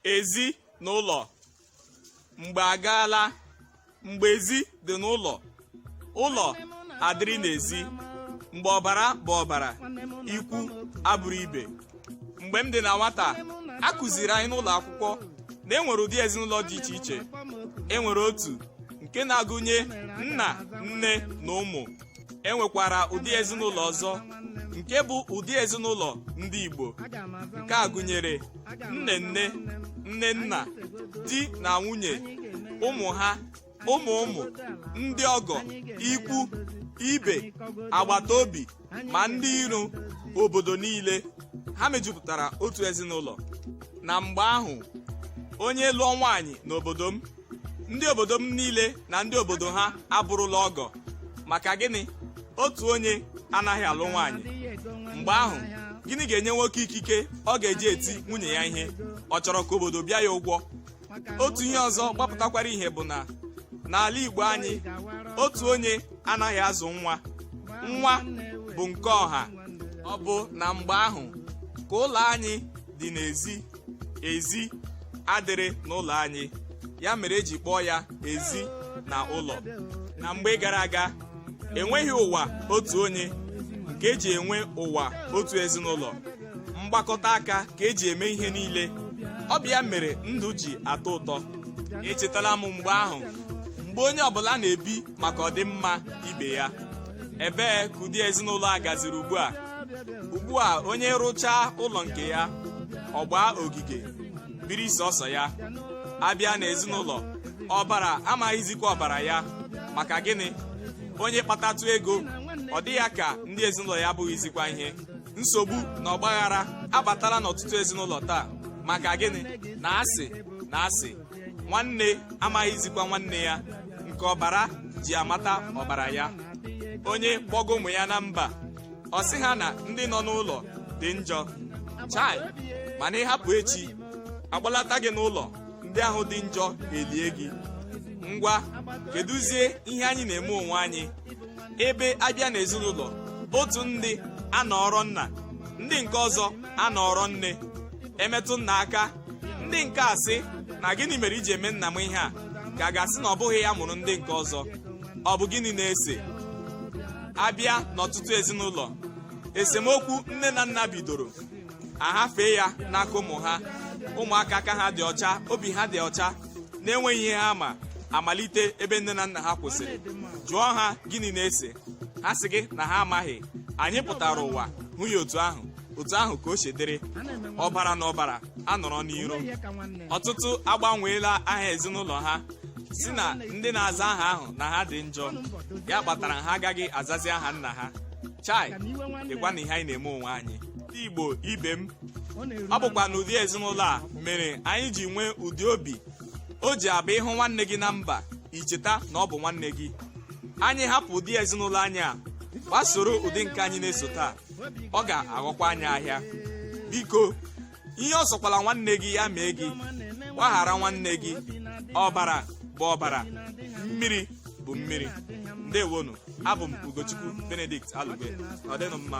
ezi na ụlọ mgbe agaala mgbe ezi dị n'ụlọ ụlọ adịrị n'ezi mgbe ọbara bụ ọbara ikwu abụrụ ibe mgbe m dị na nwata a kụziri anyị n'ụlọ akwụkwọ na e nwere ụdị ezinụlọ dị iche iche e nwere otu nke na-agụnye nna nne na ụmụ e nwekwara ụdị ezinụlọ ọzọ nke bụ ụdị ezinụlọ ndị Igbo nke a gụnyere nne nne nne nna di na nwunye ụmụ ha ụmụ ụmụ ndị ọgọ ikwu ibe agbata obi ma ndị iro obodo niile ha mejupụtara otu ezinụlọ na mgbe ahụ onye lụọ nwaanyị n'obodo m ndị obodo m niile na ndị obodo ha abụrụla ọgọ maka gịnị otu onye anaghị alụ nwaanyị mgbe ahụ gịnị ga-enye nwoke ikike ọ ga-eji eti nwunye ya ihe ọ chọrọ ka obodo bịa ya ụgwọ otu ihe ọzọ gbapụtakwara ihe bụ na n'ala Igbo anyị otu onye anaghị azụ nwa nwa bụ nke ọha ọ bụ na mgbe ahụ ka ụlọ anyị dị n'ezi ezi adịrị n'ụlọ anyị ya mere eji kpọọ ya ezi na ụlọ na mgbe gara aga enweghị ụwa otu onye nke eji enwe ụwa otu ezinụlọ mgbakọta aka ka eji eme ihe niile ọ bụ ya mere ndụ ji atọ ụtọ echetala m mgbe ahụ mgbe onye ọbụla na-ebi maka ọdịmma ibe ya ebee ka ụdị ezinụlọ a gaziri ugbu a ugbu a onye rụchaa ụlọ nke ya ọ gbaa ogige biri sọsọ ya abịa n'ezinụlọ ọbara amaghịzikwa ọbara ya maka gịnị onye kpatatụ ego ọ dị ya ka ndị ezinụlọ ya abụghịzikwa ihe nsogbu na ọgbaghara abatala n'ọtụtụ ezinụlọ taa maka gịnị na asị na asị nwanne amaghịzikwa nwanne ya nke ọbara ji amata ọbara ya onye kpọga ụmụ ya na mba ọ sị ha na ndị nọ n'ụlọ dị njọ chai mana ị hapụ echi akpọlata gị n'ụlọ ndị ahụ dị njọ elie gị ngwa kedụzie ihe anyị na-eme onwe anyị ebe abịa n'ezinụlọ otu ndị anọọrọ nna ndị nke ọzọ anọọrọ nne emetụ nna aka ndị nke a sị na gịnị mere i ji eme nna m ihe a ka a ga-asị na ọ bụghị ya mụrụ ndị nke ọzọ ọ bụ gịnị na-ese abịa n'ọtụtụ ezinụlọ esemokwu nne na nna bidoro ahafee ya n'aka ụmụ ha ụmụaka aka ha dị ọcha obi ha dị ọcha na-enweghị ihe ha ma amalite ebe nne na nna ha kwụsịrị jụọ ha gịnị na-ese ha sị gị na ha amaghị anyị pụtara ụwa hụ ya otu ahụ otu ahụ ka o si dịrị ọbara na ọbara anọrọ n'iro ọtụtụ agbanweela aha ezinụlọ ha sị na ndị na-aza aha ahụ na ha dị njọ ya kpatara ha agaghị azazi aha nna ha chai lekwanụ ihe anyị na-eme onwe anyị ndị igbo ibe m ọ bụkwanụ ụdị ezinụlọ a mere anyị ji nwee ụdị obi o ji abụ ị hụ nwanne gị na mba i cheta na ọ bụ nwanne gị anyị hapụ ụdị ezinụlọ anyị a gbasoro ụdị nke anyị na-eso taa ọ ga-aghọkwa anyị ahịa biko ihe ọ sọkwala nwanne gị ya mee gị gbaghara nwanne gị ọbara bụ ọbara mmiri bụ mmiri ndewonụ abụ m ugochukwu benedict alugbe nọdịnụ mma